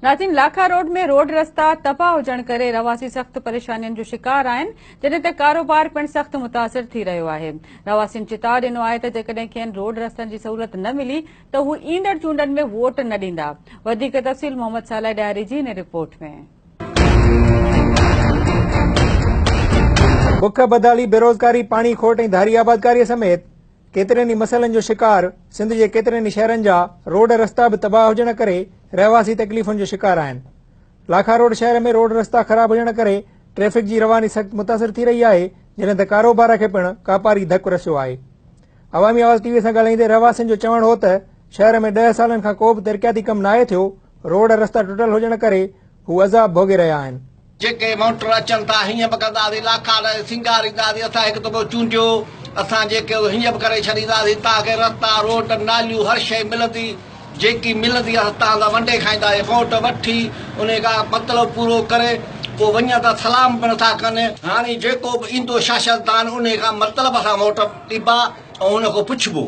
ناظرين Lakha road ۾ road رستا تباهه هجڻ ڪري رهواسي سخت پريشانين جو شڪار آهن جڏهن ته ڪاروبار پڻ سخت متاثر ٿي رهيو آهي رهواسين چتاء ڏنو آهي ته جيڪڏهن کين روڊ رستن جي سهولت نه ملي ته هو ايندڙ چونڊن ۾ ووٽ نه ڏيندا وڌيڪ تفصيل محمد صالح ڏياري جي هن رپورٽ ۾ بک بدحالي بيروزگاري پاڻي کوٽ ۽ ڌاري آبادڪاري سميت ڪيترن ئي مسئلن جو شڪار سنڌ جي ڪيترن ئي شهرن جا روڊ رستا به تباهه هجڻ ڪري رهواسي تڪليفن جو شڪار آهن لاکا روڊ شهر ۾ روڊ رستا خراب هجڻ ڪري ٽريفڪ جي رواني سخت متاثر ٿي رهي آهي جڏهن ته ڪاروبار کي پڻ ڪاپاري ڌڪ رسيو آهي عوامي آواز ٽي وي سان ڳالهائيندي رهواسين جو چوڻ هو ته شهر ۾ ڏهه سالن کان ڪو به ترقياتي ڪم ناهي ٿيو روڊ رستا ٽٽل هجڻ ڪري هو عذاب ڀوڳي رهيا آهن جيڪي مونٽر اچن ٿا هيئن به ڪنداسين لاکا ڏئي سينگارينداسين اسان هڪ دفعو چونڊيو اسان جيڪي هيئن به ڪري ڇڏينداسين تان کي رستا روڊ ناليون هر شئي ملندي جيڪي ملندي اسان تان سان ونڊي کائينداسين ووٽ وٺي انهي کان مطلب پورو ڪري پوء وڃن ٿا سلام به نٿا ڪن هاڻي جيڪو به ايندو شاشدان انهي کان مطلب سان ووٽ ڏبا ۽ ان کان پڇبو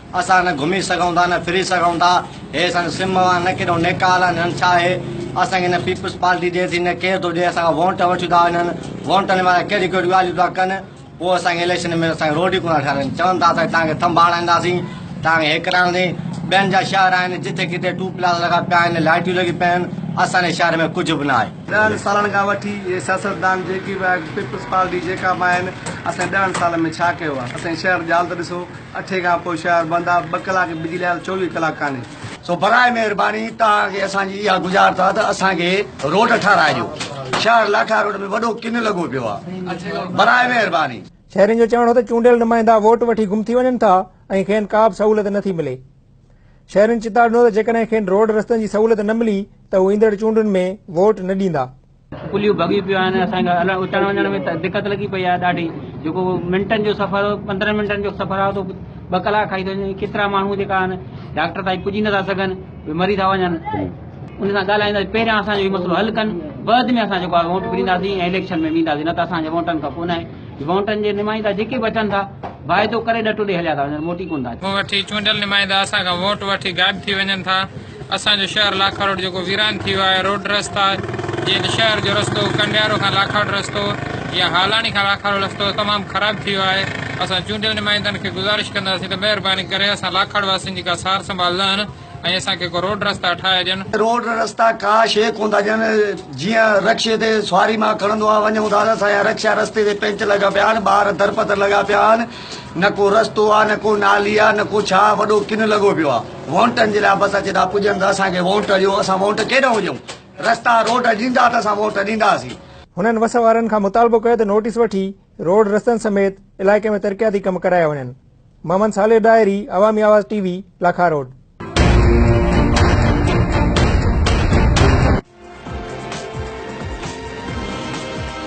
اسان نه گهمي سگهون ٿا نه ڦري سگهون ٿا هي اسان سم اوهان نه ڪيڏو نيڪال آهن هن ڇا هي اسان کي نه پيپلز پارٽي ڏي ٿي نه ڪير ٿو ڏي اسان کان وونٽ وٺي ٿا وڃن وونٽن وارا ڪهڙيون ڪهڙيون ڳالهيون ٿا ڪن پوء اسان کي اليڪشن ۾ اسان کي روڊ ئي ڪونه ٿا ٺارين چون ٿا ته توهان کي ٿنڀ هڻائينداسين توهان کي هي ڪرائينداسين ٻين جا شهر آهن جتي ڪٿي ٽو پلاز لڳا پيا آهن لائٽيون لڳي پيون آهن اسان جي شهر ۾ ڪجهه به نه آهي. ڏهن سالن کان وٺي هي سياستدان جيڪي به آهن پيپلز پارٽي جيڪا به آهن اسان ڏهن سالن ۾ ڇا ڪيو آهي اسان جي شهر جي حالت ڏسو اٺين کان پوء شهر بند آهي، ٻه ڪلاڪ بجلي آيل چوويهه ڪلاڪ ڪانهي. سو براء مهرباني توهان کي اسان جي اها گذارت آهي ته اسان کي روڊ ٺاهرائي ڏيو، شهر لاٺا روڊ ۾ وڏو ڪن لڳو پيو آهي، براء مهرباني. شهرين جو چوڻ هو ته چونڊيل نمائندا ووٽ وٺي گم ٿي وڃن ٿا ۽ کين ڪا به سهولت نه ٿي ملي. شهرين چتاء ڏنو ته جيڪڏهن کين روڊ رستن جي سهولت نه ملي ته هو ايندڙ چونڊن ۾ ووٽ نه ڏيندا. پليون ڀڳي پيون آهن اسان کي هلڻ اچڻ وڃڻ ۾ دقت لڳي پئي آهي ڏاڍي جيڪو منٽن جو سفر هو پندرهن منٽن جو سفر آهي تو ٻه ڪلاڪ کائي ٿو وڃي ڪيترا ماڻهو جيڪا آهن ڊاڪٽر تائين پڄي نٿا سگهن مري ٿا وڃن ان سان ڳالهائينداسين پهريان اسانجو هي مسئلو حل ڪن بعد ۾ اسان جيڪو آهي ووٽ ڏينداسين ۽ اليڪشن ۾ وينداسين نه ته اسانجي ووٽن کان ڪو نه آهي ووٽن جي نمائندا جيڪي به اچن ٿا واعدو ڪري ڏٽو ڏئي هليا ٿا وڃن موٽي ڪونه ٿا اچن وٺي چونڊيل نمائندا اسان کان ووٽ وٺي غائب ٿي وڃن ٿا اسان جو شهر لاکاڙوٽ جيڪو ويران ٿي ويو آهي روڊ رستا جيئن ته شهر جو رستو ڪنڊيارو کان لاکاڙوٽ رستو يا هالاڻي کان لاکاڙوٽ رستو تمام خراب ٿي ويو آهي اسان چونڊيل نمائندن کي گذارش ڪنداسين ته مهرباني ڪري اسان لاکاڙ واسين جي ڪا سار سنڀال لهن ۽ اسان کي ڪو روڊ رستا ٺاهي ڏين. روڊ رستا ڪا شيء ڪونه ٿا ڏين جيئن رڪشي تي سواري مان کڻندو آهيان ونجون ٿا ته اسان جا رڪشا رستي تي پينچ لڳا پيا آهن ٻار درپدر لڳا پيا آهن نه ڪو رستو آ نه ڪو نالي آ نه ڪو ڇا وڏو ڪن لڳو پيو آ وونٽن جي لاء بس اچي ٿا پڄن ته اسان کي وونٽ ڏيو اسان وونٽ ڪيڏانهن ڏيون رستا روڊ ڏيندا ته اسان وونٽ ڏينداسين. هنن وس وارن کان مطالبو ڪيو ته نوٽيس وٺي روڊ رستن سميت علائقي ۾ ترقياتي ڪم ڪرايا وڃن محمد صالح ڏاهري عوامي آواز ٽي وي لاکاروڊ.